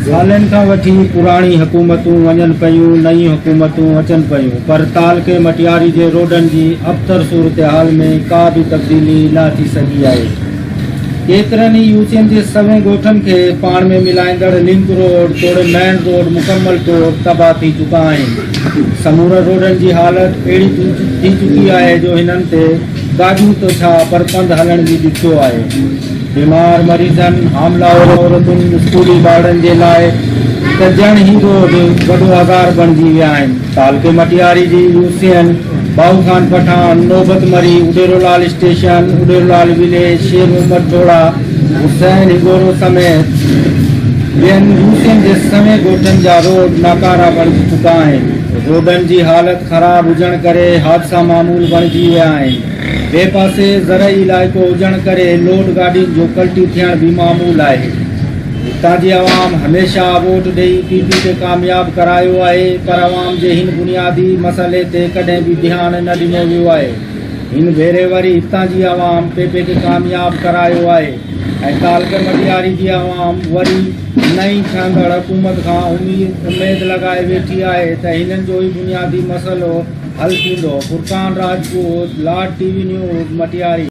سالن کان وٺي پراڻي حڪومتون وڃن پيون نئيون حڪومتون اچن پيون پر تعلقي مٽياري جي روڊن جي ابتر صورتحال ۾ ڪا به تبديلي نه اچي سگهي آهي ڪيترن ئي يو سين جي سوين ڳوٺن کي پاڻ ۾ ملائيندڙ لنڪ روڊ توڙي مين روڊ مڪمل طور تباهه ٿي چڪا آهن. سمورن روڊن جي حالت اهڙي ٿي چڪي آهي جو هنن تي گاڏيون ته ڇا پر پنڌ هلڻ به ڏکيو آهي. بيمار مريضن، حاملا عورتن، اسڪولي ٻارڙن جي لاء ته ڄڻ هي روڊ وڏو آزار بڻجي ويا آهن. تعلقي مٽياري جي U C N, Bahu Khan Pathan, نوبت مري، اڏيرولال اسٽيشن، اڏيرولال وليج، شير محمد ٽوڙا، حسين هڳورو سميت ٻين يو سي اين جي سوين ڳوٺن جا روڊ ناڪارا بڻجي چڪا آهن. روڊن جي حالت خراب هجڻ ڪري حادثا معمول بڻجي ويا آهن. ٻئي پاسي زرعي علائقو هجڻ ڪري لوڊ گاڏين جو پلٽي ٿيڻ به معمول آهي. هتان جي عوام هميشه ووٽ ڏئي پي پي کي ڪامياب ڪرايو آهي پر عوام جي هن بنيادي مسئلي تي ڪڏهن به ڌيان نه ڏنو ويو آهي هن ڀيري وري هتان جي عوام پي پي کي ڪامياب ڪرايو آهي ۽ تعلقي مٽياري جي عوام وري نئين ٺهندڙ حڪومت کان اميد لڳائي ويٺي آهي ته هنن جو هي بنيادي مسئلو حل ٿيندو فرقان راجپوت لاٽ ٽي وي نيوز مٽياري